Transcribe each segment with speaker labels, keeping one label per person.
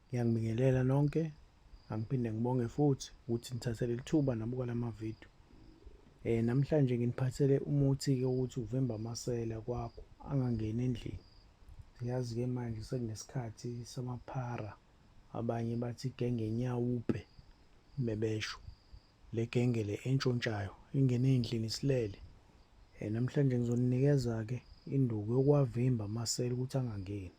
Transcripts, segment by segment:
Speaker 1: Ngiyanibingelela nonke, angiphinde ngibonge futhi ukuthi nithathe leli thuba nabuka la mavidiyo. Um namhlanje nginiphathele umuthi-ke ukuthi uvimba amasela kwakho angangeni endlini. Siyazi-ke manje sekunesikhathi samaphara, abanye bathi igenge nyawupe mebesho. Le genge le entshontshayo ingene ey'ndlini isilele. Um namhlanje ngizoninikeza-ke induku yokuwavimba amasela ukuthi angangeni.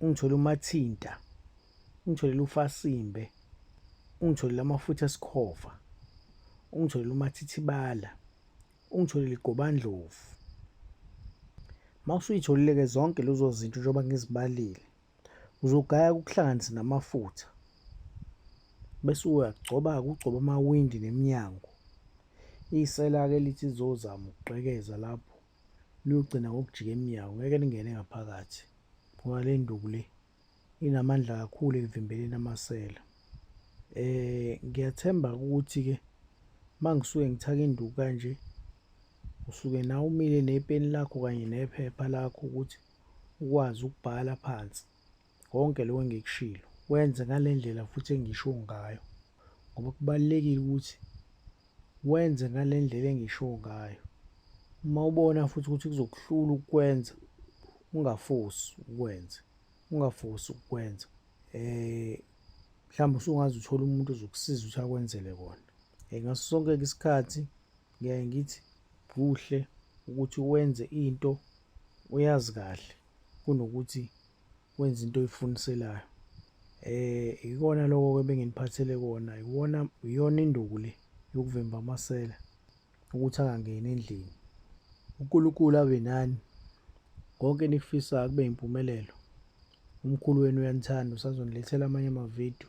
Speaker 1: ungitholele umathinta ungitholele ufasimbe ungitholele amafutha esikhova ungitholele umathithibala ungitholele igobandlovu mawusuyitholile ke zonke lezo zinto njengoba ngizibalile uzogaya kuhlanganise namafutha bese uyagcoba kugcoba amawindi neminyango isela ke lithi zozama ukugqekeza lapho liyogcina ngokujika emnyango ngeke lingene ngaphakathi ngoba le nduku le inamandla kakhulu ekuvimbeleni amasela eh ngiyathemba ukuthi ke mangisuke ngithaka induku kanje usuke nawe umile nepeni lakho kanye nephepha lakho ukuthi ukwazi ukubhala phansi Konke lokho engikushilo kwenze ngale ndlela futhi engisho ngayo ngoba kubalulekile ukuthi wenze ngale ndlela engisho ngayo. Uma ubona futhi ukuthi kuzokuhlula ukukwenza ungafosi ukwenze, ungafosi ukukwenza. Eh mhlawumbe usungaze uthole umuntu ozokusiza ukuthi akwenzele kona. Eh ngaso sonke isikhathi ngiyaye ngithi kuhle ukuthi wenze into oyazi kahle kunokuthi wenze into oyifuniselayo eh ikona lokho ke benginiphathele kona iwona iyona induku le yokuvimba amasela ukuthi angangeni endlini uNkulunkulu abe nani konke nikufisayo kube impumelelo umkhulu wenu uyanithanda usazonilethela amanye amavidiyo